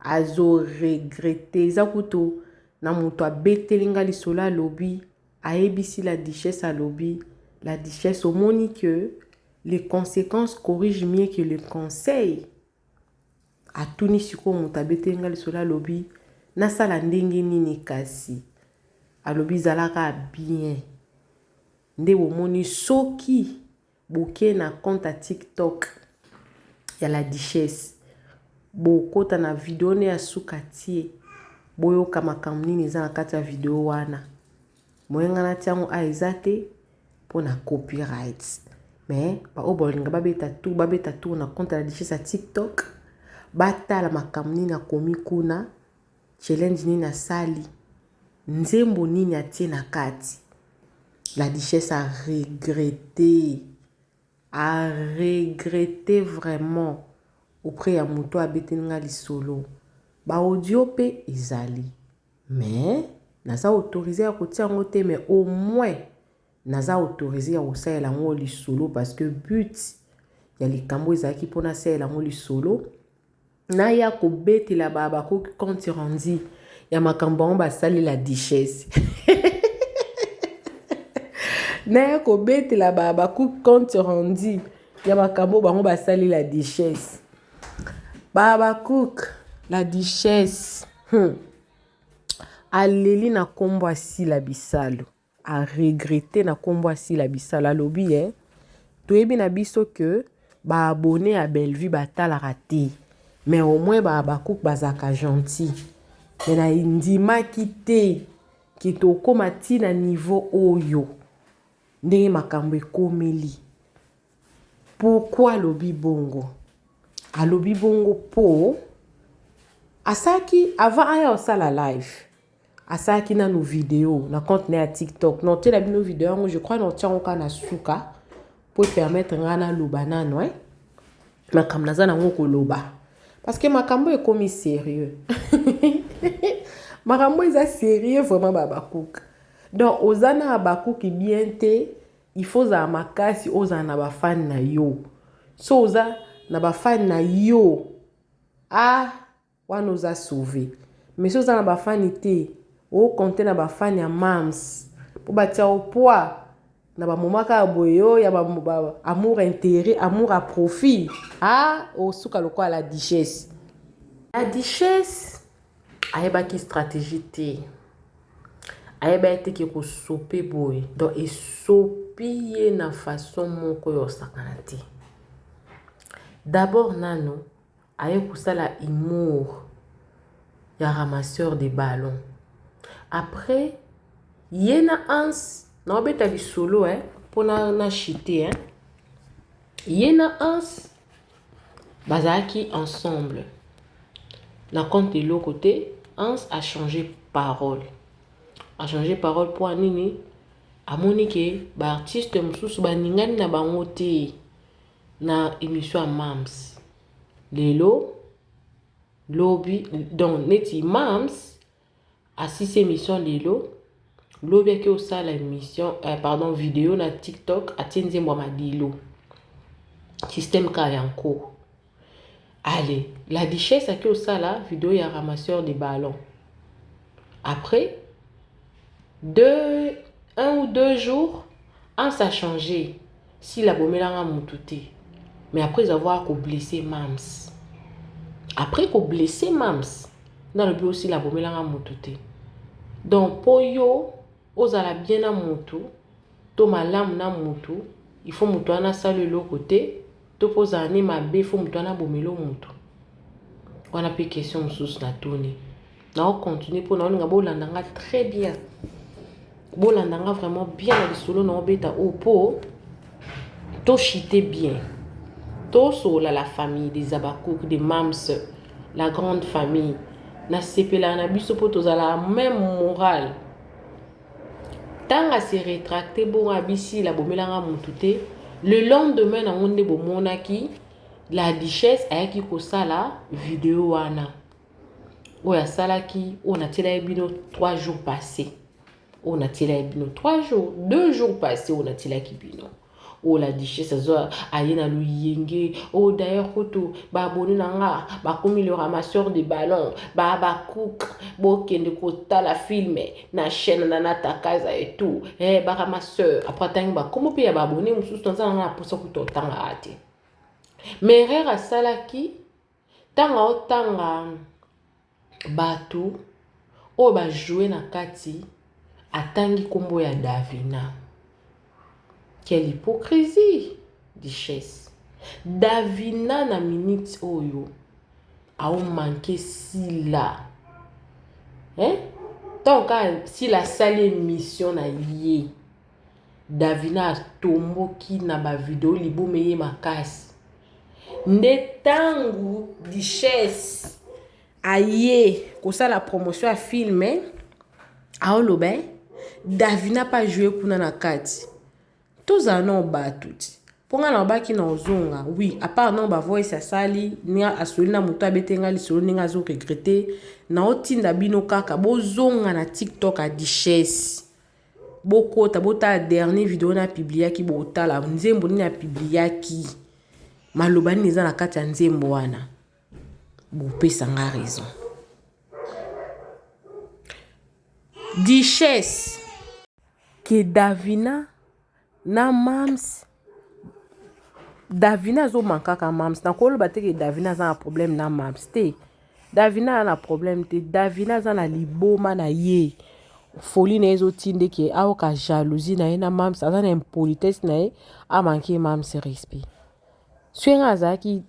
azo regrette eza kutu na mutu abeteli nga lisolo alobi ayebisi la duchesse alobi la duchesse omoni que les consequences corrigent mieux que le conseil atuni sikoyo moto abeteli nga lisolo alobi nasala ndenge nini kasi alobi zalaka bien nde bomoni soki Boke na compte ya tik tok ya la duchesse bokota na video ne ya suka tie boyoka makambo nini eza na kati ya video wana moye nga natia yango a eza te mpo na copyright mais baoyo balinga babeta tour babeta tour na compte ya la duchesse ya tiktok batala makambo nini akomi kuna Challenge nini asali? Nzembo nini atie na kati? La duchesse a regrette, a regrette vraiment auprès ya moto oyo abeteli nga lisolo. Ba audio pe ezali mais naza autorise ya kotia yango te mais au moins naza autorise ya kosalela yango lisolo parce que but ya likambo ezalaki mpo nasalela yango lisolo. Naya kobetela ba Habacuc compte rendu ya makambo yango basali la duchesse naya kobetela ba Habacuc compte rendu ya makambo bango basali la duchesse ba Habacuc la duchesse hmm. aleli na nkombo asila bisalu a regrette na kombo ya sila bisala alobi eh, toyebi na biso que ba abonne ya bellevue batalaka te mais au moins ba habacuc bazalaka gentil mais na ndimaki te ke tokoma ti na niveau oyo ndenge makambo ekomeli Pourquoi alobi bongo? Alobi bongo po asalaki avant aya kosala live asalaki nanu video na compte na ya TikTok. Na otiela bino video yango, je crois na otia yango kaka na suka po permettre ngai naloba nanu eh. Makambo naza nango koloba parce que makambo ekomi serieux makambo eza serieux vraiment ba Habacuc donc oza na Habacuc bien te Il faut ozala makasi ozala na ba fan na yo so oza na ba fan na yo ah wana oza sauve mais so oza na ba fan te o compte na ba fan ya mams po batia o poids na ba moment kaka boye yo ya ba, ba amour intérêt amour à profit ah osuka lokola la duchesse la duchesse ayebaki strategie te ayebaki te ke kosope boye donc esopi ye na façon moko ya osakana te d'abord nano aye kosala humour ya ramasseur de ballon après ye na ans naobeta lisolo eh, mpo na, na chite eh. ye na ans Bazalaki ensemble na compte eloko te Hans a change parole a change parole mpo ya nini amoni ke ba artiste mosusu baningani na bango te na emission ya Mam's lelo lobi donc neti Mam's Asisi emission lelo, lobi ake osala emission eh, pardon video na TikTok atie nzembo ya Madilu. Système ka ya nko. Allez, la duchesse ake osala video ya ramasseur de ballon. Après deux un ou deux jours, Hans a changé. Sila abomela nga mutu te mais après avoir ko blesser Mam's après ko blesser Mam's nde alobi yo Sila abomela nga mutu te donc po yo ozala bien na mutu to malamu na mutu il faut mutu wana asala eloko te To pe ozala nde mabe faut mutu wana abomelo mutu? Wana pe question mususu na tuni. Na o continuer po na olinga bo landa nga très bien. Bo landa nga vraiment bien na lisolo na obeta o po to chite bien. To sola la famille des Abakouk, des Mams, la grande famille. Na sepela na biso po tozala même morale. Tango a se retracter bongo a bi Sila bomela nga mutu te, le lendemain nango nde bo monaki la duchesse ayaki ko sala video wana oyo asalaki oyo natielaki bino 3 jours passés oyo natielaki bino 3 jours 2 jours passés oyo natielaki bino Oh la duchesse azo aye na luyenge. Oh d'ailleurs kutu ba abonne na nga bakomi le ramasseur de ballon ba bakuk bokende kotala film na chaîne na natakaza et tout eh ba ramasseur après atangi bakombo mpe ya ba abonne mosusu naza na nga na posa kutu otangaka te mais erreur asalaki Ntango aotanga bato oyo ba joue na kati atangi nkombo ya Davina. Quelle hypocrisie duchesse. Davina na minute oyo aomanke Sila eh? ntango kaka Sila asali emission na ye Davina atomboki na ba video libumu eye makasi nde tangu duchesse aye kosala promotion ya film aoloba Davina pa joue kuna na kati tozala na batu ti mpo ngai nalobaki na ozonga wi apart nao bavoice asali ndenge asoli na moto abete ngai lisolo ndenge azo regrete naotinda bino kaka bozonga na tiktok ya duchesse bokota botala dernier video na publiaki botala nzembo nini ya publiaki maloba nini eza na kati ya nzembo wana bopesa nga raison duchesse ke davina na mams davina azo mankaka mams nakoloba te ke davina aza na problème na mams te davina aza na problème te davina aza na liboma na ye foli na ye ezotinde ke aoka jalousie na ye na mams aza na impolitesse na ye amanke mams respect soki ngai azalaki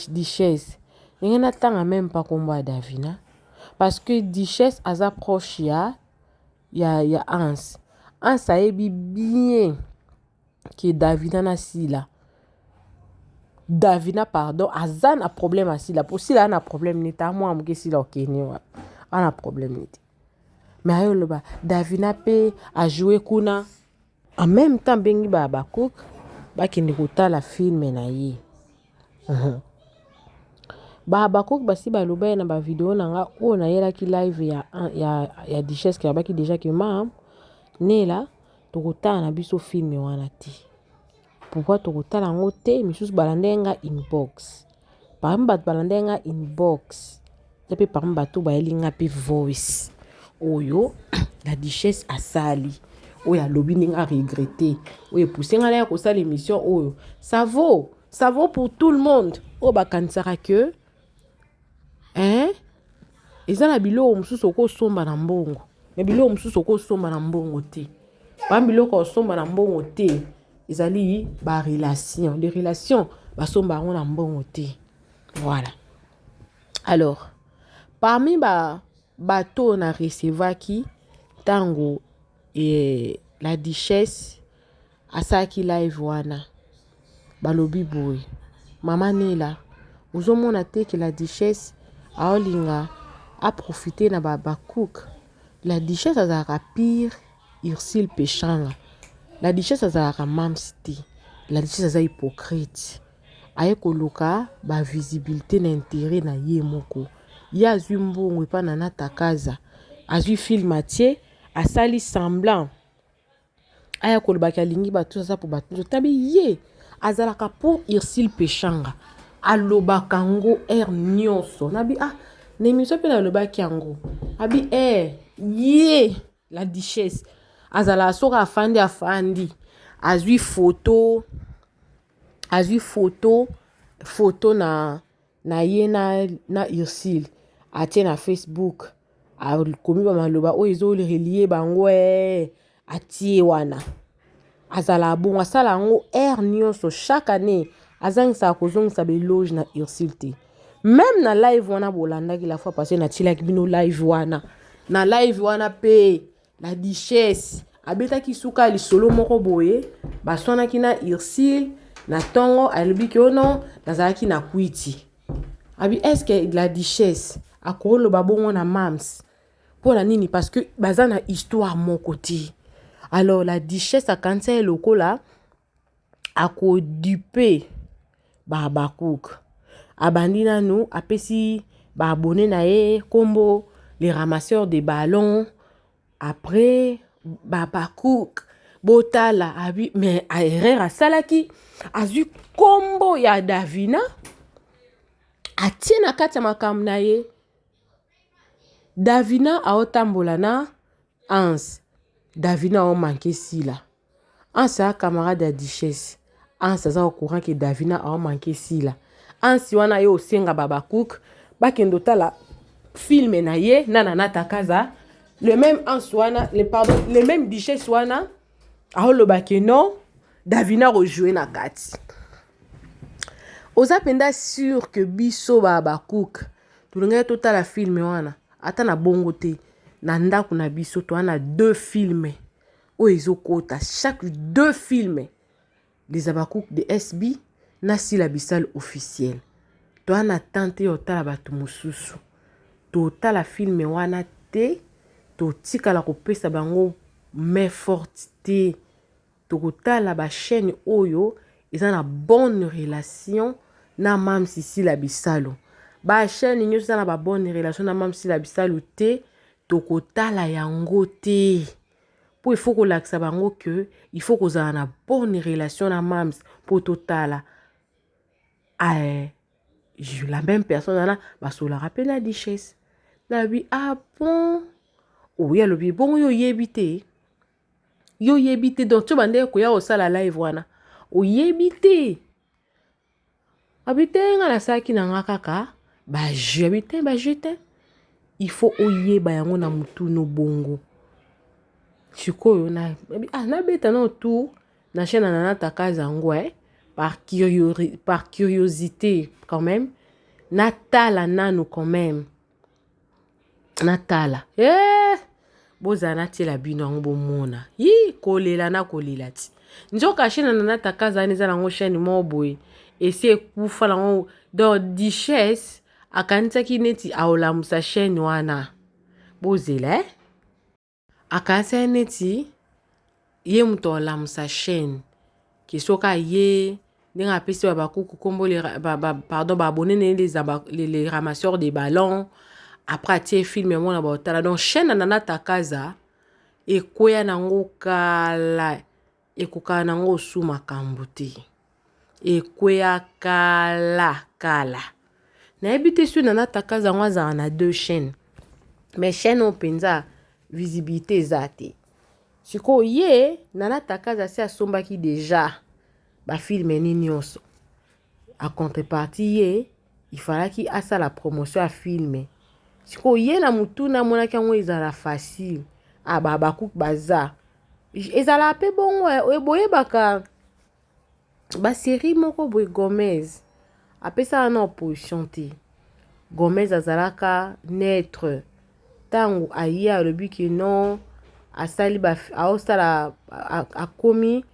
duchesse ndenge natanga meme pa kombo ya davina parce que duchesse aza proche ya ya ya Hans Hans ayebi bien que Davina na Sila Davina pardon aza na problème ya Sila mpo Sila ana problème nini ta mwa moke Sila okeni wapi ana problème nini te mais ayo loba Davina mpe ajoue kuna En meme temps abengi ba Habacuc bakende kotala filme na ye. Mhm. Ba Habacuc basi baloba ye na ba video na nga oyo nayelaki live ya, ya, ya Duchesse ke abaki deja ke mam nela tokotala na biso filme wana te. Pourquoi tokotala yango te misusu balandaki nga inbox parmi bato balandaki nga inbox eza mpe parmi bato bayeli nga mpe voice oyo la duchesse asali oyo alobi ndenge aregrete oyo epuse nga naya kosala émission oyo ça vaut ça vaut pour tout le monde oyo bakanisaka que Eeh eza na biloko mosusu oko somba na mbongo mais biloko mosusu oko somba na mbongo te pam biloko ya kosomba na mbongo te ezali ba relation de relation basomba yango na mbongo te voilà alors parmi ba bato oyo na recevaki ntango la duchesse Asalaki live wana balobi boye maman Nella ozo mona te que la duchesse aolinga a profiter na ba Habacuc la duchesse azalaka pire Ursule Peshanga la duchesse azalaka mams te la duchesse aza hypocrite aye koluka ba visibilité na intérêt na ye moko ye azwi mbongo epa Nana Takaza azwi film atie asali semblant aya koloba ke alingi bato aza po bato nzoto tabi ye azalaka po Ursule Peshanga alobaka ngo heure nionso nabi ah na emission pe nalobaki yango abi eh ye la duchesse azalaka soki afandi afandi azwi foto azwi foto foto na na ye na, na Ursule atie na Facebook akomi ba maloba oyo ezo relie bango ee atie wana azala bongo asala yango heure nyonso chaque année azangisaka kozongisa beloge na Ursule te meme na live wana bolandaki la fois passé natilaki bino live wana na live wana mpe La duchesse abetaki suka ya lisolo moko boye baswanaki na ursule na ntongo alobi ke ono nazalaki na kwiti abi eske la duchesse akoloba bongo na mams mpo na nini parce que baza na histoire moko te alors la duchesse akanisa ye lokola ako dupe ba habakouk abandi nanu apesi ba abonne na ye kombo le ramasseur de ballon après ba habakouk botala abi me erreur asalaki azwi kombo ya davina atie na kati ya makambo na ye davina aotambola na anse davina aomanke sila. Hans aza camarade ya duchesse. Hans aza au courant que Davina a manqué Sila. Hans wana yo osenga Babacook bakende otala film na ye na Nana Takaza. Le même Hans wana, le pardon, le même duchesse wana aoloba que non Davina rejouer na kati. Oza penda sûr que biso Babacook tolingaki totala film wana ata na bongo te na ndako na biso toana deux films oyo ezokota chaque deux films les habacuc de sb na sila bisal officiel toa na temps te ya otala bato mosusu totala filme wana te totikala kopesa bango main forte te tokotala bachaîne oyo eza na bonne relation na mam sisila bisalu bachaîne nyonso eza na babonne relation na mam sisila bisalu te tokotala yango te mpo il faut kolakisa bango que il faut kozala na bonne relation na mams mpo totala ae eh, la même personne wana basolaka mpe na duchesse nalobi ah bon oye oh, alobi bongo yo oyebi te yo oyebi te donc tyo bandeki koya kosala live wana oyebi te Abi te nga nasalaki na nga kaka ba jeu abi te ba jeu te il faut oyeba yango na mutu no bongo sikoyo na abi ah nabeta nao tour na chaîne na nana takaza yango eh par, curiori, par curiosité quand même natala nanu quand même natala eh! bozala natiela bino yango bomona yi kolela na kolela ti nzoka chaine na nata kazani eza nango chaine moko boye esi ekufa nango donc duchesse akanisaki neti aolamusa chaine wana bozela eh? Akasia ye neti ye moto alamusa chaîne ke soki aye ndenge apesi babakuku nkombo pardon baabone na ye le ramasseur de ballon après atie filme yango na baotala donc chaîne na nana takaza ekweya na yango kala Ekokaka na ngo osu makambu te. Ekweya kala kala. Nayebi te soki Nana Takaza yango azala na deux chaînes. Mais chaîne oyo penza visibilité eza te. Sikoyo ye Nana Takaza si asombaki deja ba filme ni nionso. En contrepartie ye il falaki asala promotion ya film sikoyo ye na motuna amonaki yango ezala facile ababaku ah, baza ezala mpe bongo eh, boyebaka baserie moko boye gomez apesaka na opposition te gomez azalaka neutre ntango aye alobi ke non asali aosala akomi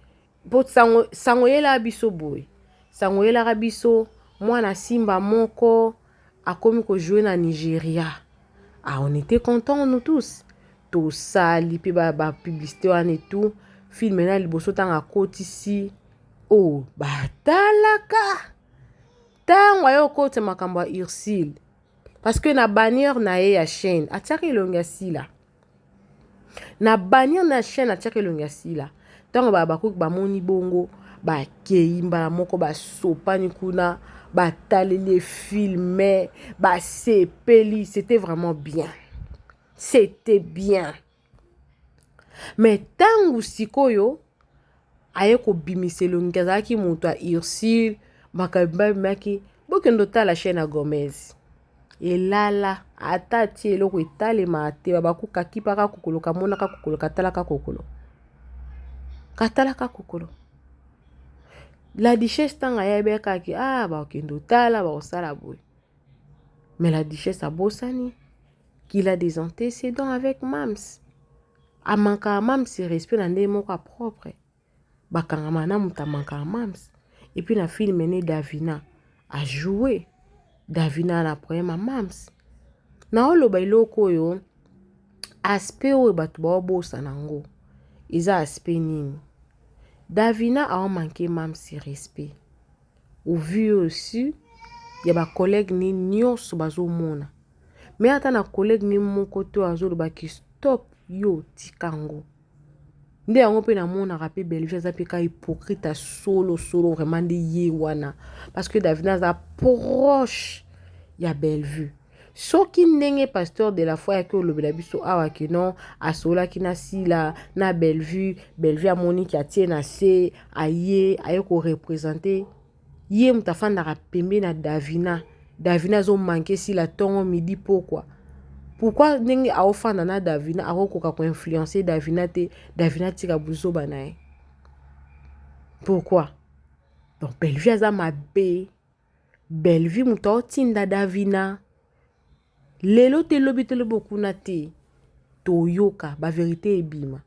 mpo sango, sango yela biso boye sango yelaka biso mwana simba moko akomi kojoue na nigeria ah, on était content nous tous tosali mpe bapublicité wana etout filme na liboso ntango akotisi o oh, batalaka ntango aye okotisa makambo ya ursile parce que na bannière na ye ya chaîne atiaka elongi ya sila Na banir na chaine atiaka elongi ya sila ntango ba Habacuc bamoni bongo bakei mbala moko basopani kuna bataleli ye filme basepeli c'était vraiment bien c'était bien mais ntango sikoyo aye kobimisa elongi azalaki moto ya ursule makambo babimaki bokende otala chaine ya gomez elala ata atie eloko etalema te babaku kakipaka kokolo kamonaka kokolo katalaka kokolo katalaka kokolo la duchesse ntango ayebekaki a ah, bakokende otala bakosala boye mais la duchesse abosani qu'il a des antécédents avec mams A manquaka Mam's respect na ndenge moko ya propre. Ba kangama na mutu a manquaka Mam's. Et puis na film ne Davina a joue. Davina na problème ya Mam's. Na oloba eloko oyo aspect oyo bato ba obosa na ngo. Eza aspect nini? Davina a manquer Mam's respect. Au vu aussi ya ba collègues ne nionso bazomona mais ata na collègue ne moko te oyo azoloba ke stop yo tika yango nde yango mpe namonaka mpe Bellevue aza mpe ka hypocrite ya solo solo vraiment nde ye wana parce que Davina aza proche ya Bellevue Soki ndenge pasteur de la foi yaki olobela biso awa que non asolaki na Sila na Bellevue, Bellevue amoni ki atie na se aye aye ko representer ye moto afandaka pembe na Davina. Davina azo manquer Sila tongo midi pokwa. Pourquoi ndenge aofanda na Davina akokoka ko influencer Davina te, Davina tika buzoba na ye. Pourquoi? Donc Bellevue aza mabe. Bellevue moto aotinda Davina lelo te lobi te lobi okuna te toyoka baverite ebima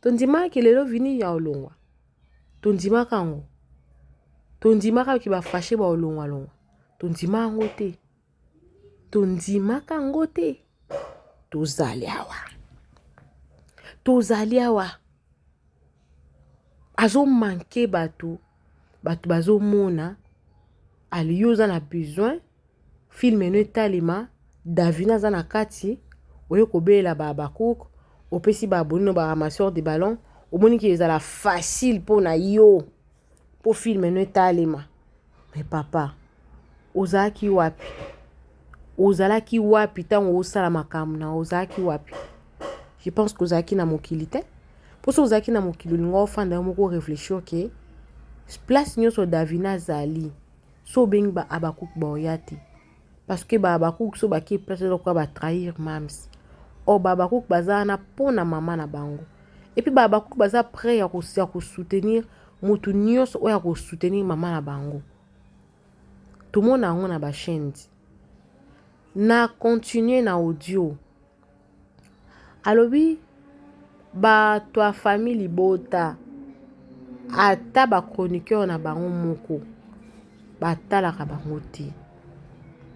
tondimaka ke lelo vini ya olongwa tondimaka yango tondimaka ke bafashe baolongwalongwa tondima yango te tondimaka yango te tozali awa tozali awa azomanke bato bato bazomona aliyo oza na besoin filme no etalema davina aza na kati oye kobelela ba habacouk opesi ba abonino ba ramasseur de ballon omoni ke ezala facile mpo na yo mpo filme no etalema me papa Ozalaki wapi? Ozalaki wapi ntango osala makambo na ozalaki wapi? Je pense que ozalaki na mokili te. Mpo soki ozalaki na mokili olinga ofanda yo moko réfléchir ke place nyonso Davina azali so obengi ba Habacuc baoya te. Parce que ba Habacuc so bake place eza lokola ba trahir mams. Or ba Habacuc baza wana mpo na mama na bango. Et puis ba Habacuc baza prêt ya ko soutenir mutu nyonso oyo ako soutenir mama na bango. Tomona yango na ba chaines. Na continuer na audio. Alobi bato ya famille libota ata ba chroniqueurs na bango moko batalaka bango te.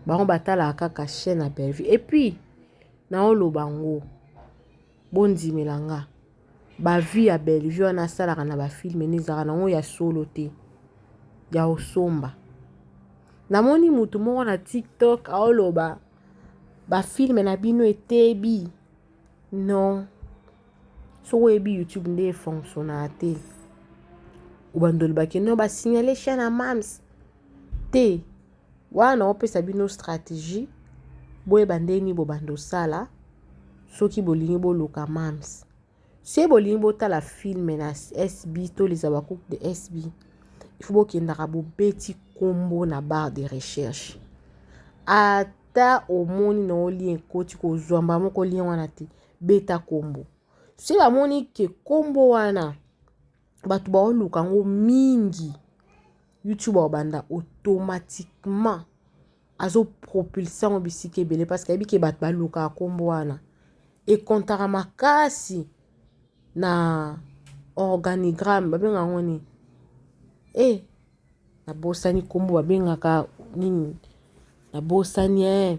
Bango batalaka kaka chaine ya Bellevue. Et puis naoloba yango. Bondimela nga ba vie ya Bellevue wana asalaka na ba film ena ezalaka nango ya solo te ya osomba. Namoni mutu moko na TikTok aoloba ba film na bino etebi non soki oyebi YouTube nde efonctionnaka te obanda olobaki non ba signale chaîne ya mams te. Wana na opesa bino strategie boyeba ndenge nini bobanda osala soki bolingi boluka mams se bolingi botala filme na sb to les habacuc de sb ifo bokendaka bobeti nkombo na barre de recherche ata omoni na olien ekoti kozwa mbala moko lien wana te beta nkombo soki bamoni ke nkombo wana bato baoluka yango mingi youtube akobanda automatiquement azopropulse yango bisika ebele parce que ayebi ke bato balukaka nkombo wana ekontaka makasi na organigramme babenga yango nini e eh, nabosani nkombo babengaka nini nabosani e eh.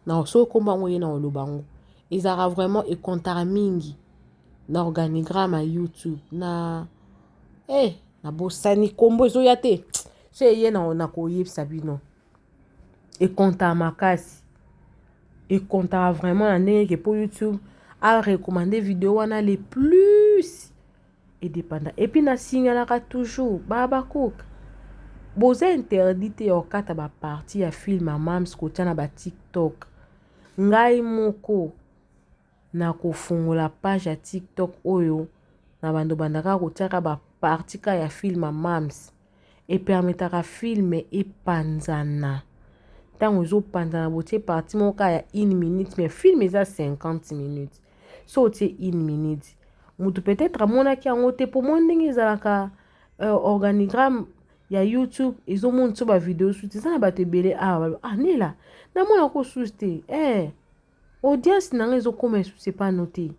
na soki okomba yango ye na oloba yango ezalaka vraiment ekontaka mingi na organigramme ya youtube na e eh, na bosani nkombo ezoya te so eye na nakoyebisa bino ekontaka makasi ekontaka vraiment na ndenge ke mpo youtube arecommande video wana le plus e depanda et puis na signalaka toujours ba Habacuc boza interdit te ya kokata ba partie ya film ya mams kotia na ba tiktok ngai moko na kofungola page ya tiktok oyo na bando bandaka kotiaka ba partie ka ya film ya mams e permetaka film epanzana tango ezo panzana botie parti moko kaka ya une minute mais film eza 50 minutes so otie une minute mutu peut-être amonaki yango te po moni ndenge ezalaka euh, organigramme ya youtube ezomonisa ba video susu eza na bato ebele awa ah, ah nela namona ko susu te eh, audience na ngai ezokoma esusu epano te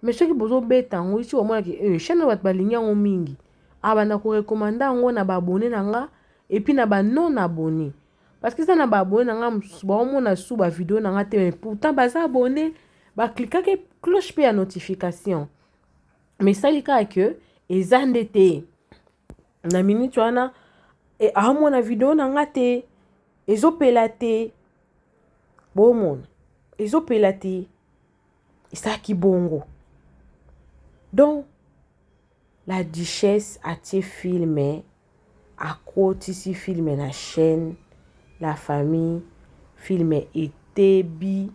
mais soki bozobeta yango isi omona ke eh, chaîne oyo bato balingi yango mingi abanda ah, korekomanda yango na baabone na nga epuis na banon abone parce que eza na baabone na nga mosusu baomona su bavideo na nga te mais pourtant baza abone baklikaki cloche mpe ya notification mais esali kaka ke eza nde te na minute wana e, aomona video na nga te ezopela te bomona ezopela te ezalaki bongo donc la duchesse atie filme akotisi filme na chaîne la famille filme etebi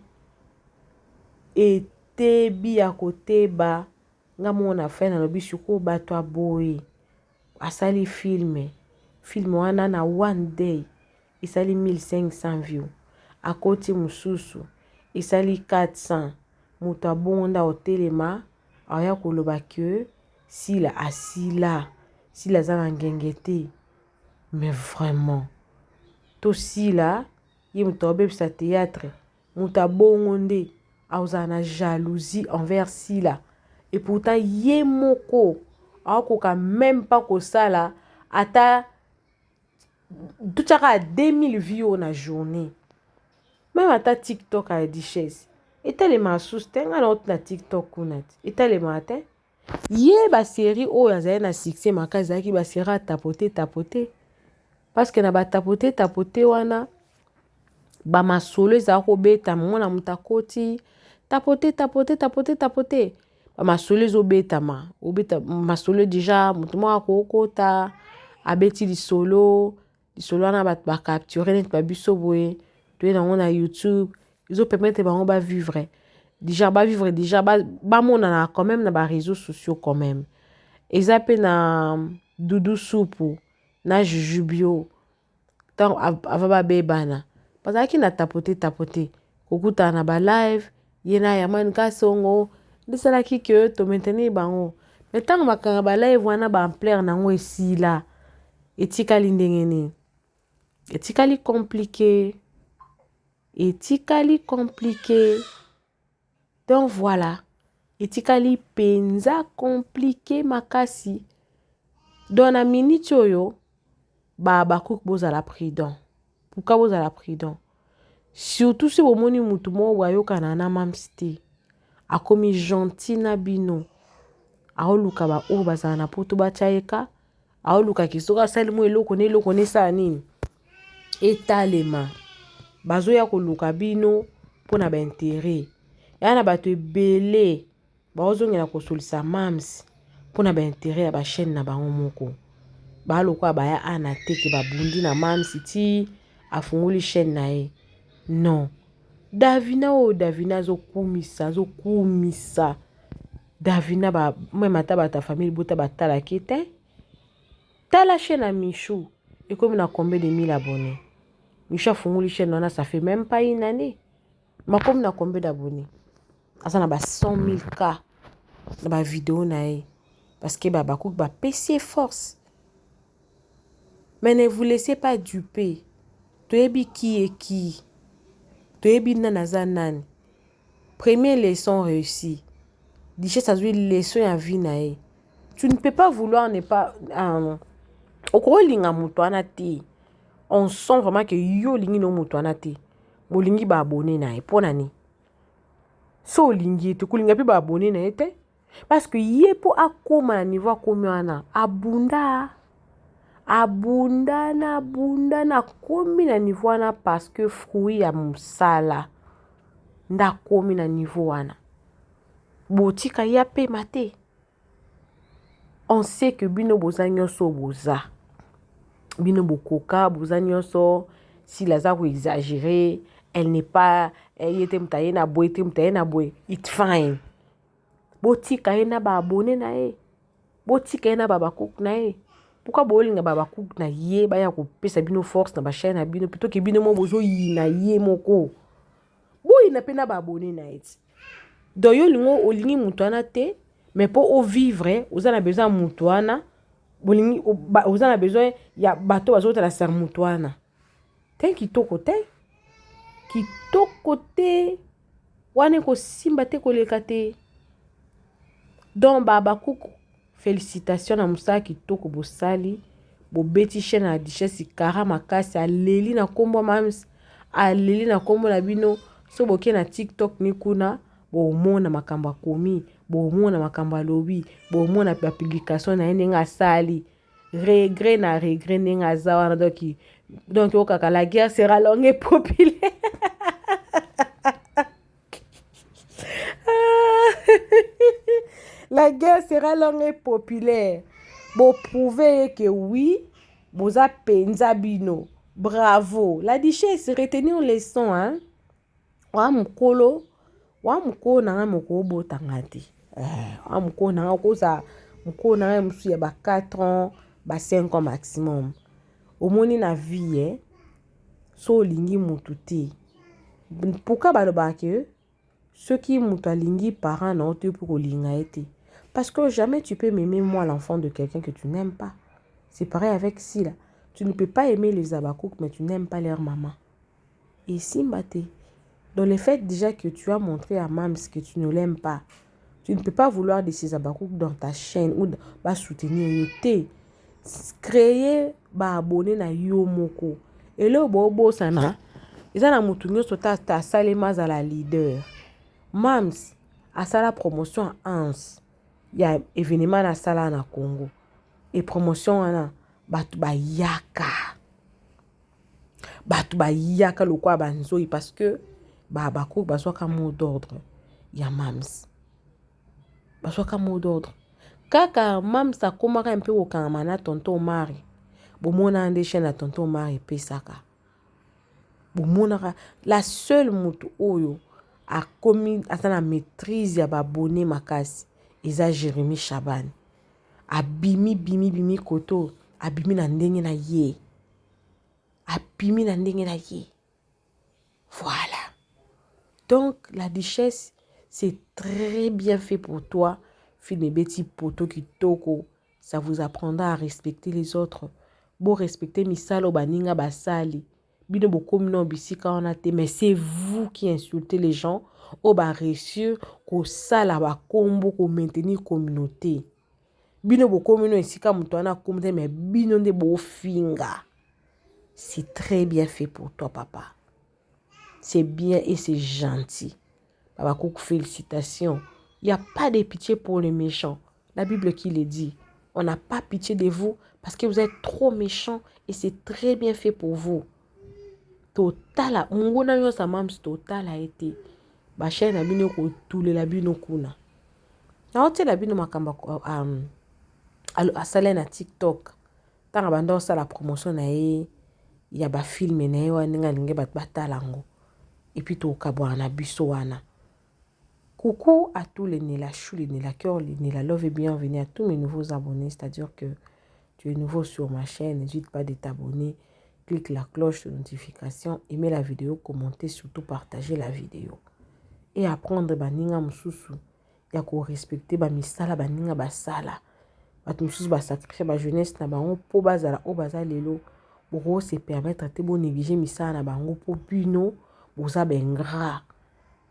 etebi ya koteba nga moko na fin nalobi sikoyo bato ya boye asali filme filme wana na one day esali 1500 view akoti mususu esali 400 mutu abongo nde akotelema akoya koloba que sila asila sila aza na ngenge te mais vraiment to sila ye mutu akobebisa théâtre mutu abongo nde akozala na jalousie envers sila et pourtant ye moko akokoka même pas kosala ata totyaka ya 2000 vie oyo na journée meme ata tiktok ya duchesse etalema asusu te ngai nauti na tiktok kuna te etalema te ye baserie oyo azali na succès makasi ezalaki baserie ya tapote tapote parce que na batapote tapote wana bamasolo ezalaki kobeta mona moto akoti tapote tapote tapote tapote bamasolo ezobetama obeta masolo deja moto moko akokota abeti lisolo lisolo wana bato bacapture neti babiso boye toye nango na youtube ezopermetre bango bavivre deja bavivre deja bamonana ba quand même na bareseau sociaux quand même eza mpe na dudu supu na jujubio ntango ava babebana bazalaki na tapote tapote kokutana na ba live ye na Herman Kasongo nde esalaki ke to maintenir bango me ntango bakanga ba live wana ba ampleur na yango esila etikali ndenge nini etikali komplike etikali komplike Donc voilà, etikali penza compliqué makasi. Donc na minute oyo ba Habakkuk bozala prudent. Pourquoi bozala prudent? Surtout si bomoni mutu moko ayokana na mamsi te. Akomi gentil na bino. Aoluka ba oyo bazala na poto batia ye ka aoluka ke soki asali mwa eloko na eloko na esala nini etalema bazoya koluka bino mpo na baintere ya na bato ebele baozongela kosolisa mams mpo na baintere ya bachaine na bango moko balokola baya ana teke babundi na mams ti afungoli chaine na ye non davina oyo davina azokumisa azokumisa Davina ba meme ata bato ya famille libota batalaki ye te tala chaîne ya michou ekomi na combien de mille abonné michou afungoli chaîne wana ça fait même pas une année makomi na combien d'abonné aza na ba 100 000 cas na bavideo na ye parce que babakuki bapesi ye force mais ne vous laissez pas duper toyebi ki ye ki toyebi nani aza nani Premier leçon reussi. Duchesse azui leçon ya vie na ye. Tu ne peux pas vouloir ne pas euh, okolinga moto wana te. On sent vraiment que yo olingi no moto wana te. Bolingi ba abonner na ye. Pona ni? So olingi ye te, kolinga pe ba abonner na ye te. Parce que ye mpo akoma na niveau akomi wana abunda abunda na abunda na akomi na niveau wana parce que fruit ya mosala nde akomi na niveau wana botika ye apema te on sait que bino boza nyonso oyo boza bino bokoka boza nyonso sila aza koexagere elle n'est pas eh, ye te moto aye na boye te moto aye na boye it fine botika ye na ba abonne na ye botika ye na babakuku na ye pourkua bolinga babakuku na ye baya kopesa bino force na bachaine na bino pitoke bino mo bozoyina ye moko boyina mpe na ba abonne na ye ti donc yo olingi olingi moto wana te mais mpo ovivre oza na besoin ya moto wana bolingi oza na besoin ya bato bazotala ser moto wana te kitoko te kitoko te wana ekosimba te koleka te donc babakuku félicitation na mosala kitoko bosali bobeti chaine ya duchesse kara makasi aleli na nkombo mams aleli na nkombo na bino so boke na tiktok ni kuna bomona makambo akomi bomona makambo alobi bomona bapublikation na ye ndenge asali regret na regret ndenge aza wana donc donc okaka la guerre sera longue et populaire la guerre sera longue et populaire boprouve ye ke oui boza mpenza bino bravo la duchesse retenir leçon hein wa mokolo wa mokolo na ngai moko obota nga te eh, wa mokolo na ngai okoza mokolo na ngai mosusu ya ba 4 ans ba 5 ans maximum omoni na vie eh? so olingi motu te pourquoi balobaka ke soki moto alingi parent na yo te mpo kolinga ye te parce que jamais tu peux m'aimer moi l'enfant de quelqu'un que tu n'aimes pas c'est pareil avec sila tu ne peux pas aimer les abakouk mais tu n'aimes pas leur maman Esimba te. Dans le fait déjà que tu as montré à Mams que tu ne l'aimes pas, tu ne peux pas vouloir de ces abakouk dans ta chaîne ou ba soutenir yo te. Créer ba abonné na yo moko. Et là, bo bosana, eza na mutu nyoso ta ta salema za la leader. Mams asala promotion ans ya événement na sala na Congo. Et promotion wana batu bayaka. bato bayaka lokola banzoi parce que bahabakuku bazwaka mot d'ordre ya mams bazwaka mot d'ordre kaka mams akomaka mpe kokangama na tonton omari bomonaka nde chaine ya tonton omari epesaka bomonaka la seule moto oyo akomi aza na maîtrise ya babone makasi eza jérémi shabane abimi bimi bimi koto abimi na ndenge na ye abimi na ndenge na ye voilà donc la duchesse c'est très bien fait pour toi film ebeti poto kitoko ça vous apprendra à respecter les autres bo respecter misala oyo baninga basali bino bokomi na bisika wana te mais c'est vous qui insultez les gens oyo ba réussir kosala bakombo ko maintenir communauté bino bokomi no esika moto wana akomi te me bino nde bofinga c'est très bien fait pour toi papa c'est bien et c'est gentil babakuku félicitations il n'y a pas de pitié pour les méchants la bible qui le dit on n'a pas pitié de vous parce que vous êtes trop méchants et c'est très bien fait pour vous totala monguna nyonso ya mams totala ye te bashai na bino ekotulela bino kuna naotyela bino makambo um, asala ye na tiktok ntango abanda kosala promotion na ye ya bafilme na ye wana ndenge alingi bato batala yango epuis tokabwana na biso wana Coucou à tous les Nella Chou, les Nella Cœur, les Nella Love et bienvenue à tous mes nouveaux abonnés. C'est-à-dire que tu es nouveau sur ma chaîne, n'hésite pas de t'abonner. Clique la cloche de notification, aimez la vidéo, commentez, surtout partagez la vidéo. Et apprendre baninga mususu ya ko respecter ba misala baninga basala. Bato mususu ba sacrifier ba jeunesse na bango po bazala o baza lelo. Boko se permettre te bo négliger misala na bango po bino boza ba ingrat.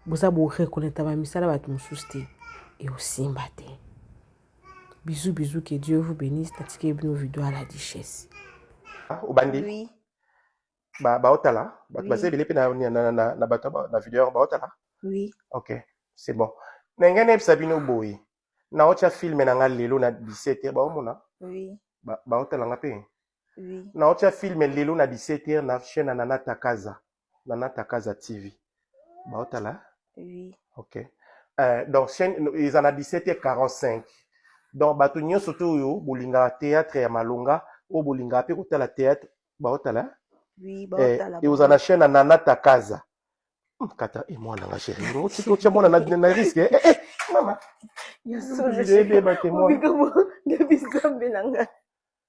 boza bo reconnaitre ba misala bato mosusu te ekosimba te bisous bisous que dieu vous bénisse natikeli bino video ya la duchesse ah, obandi oui. baotala ba bato oui. baza ebele mpe na, na, na, na, na bato na video yango baotala oui. ok c'est bon na ngai nayebisa bino boye naotya filme na ngai lelo na 17 heure baomona oui. baotala ba nga mpe oui. naotya filme lelo na 17 heure na chaîne na nana takaza na nata kaza tv baotala oui. ok euh, donc chaîne eza na 17h45 donc bato nyonso te oyo bolingaka théâtre ya malonga oyo bolingaka mpe kotala théâtre baotala oui, eh, eoza na chaîne ya nana takaza hmm, kata e eh, mwana nga chéri otya mwana na risque eh, eh, mama ebeba te mwana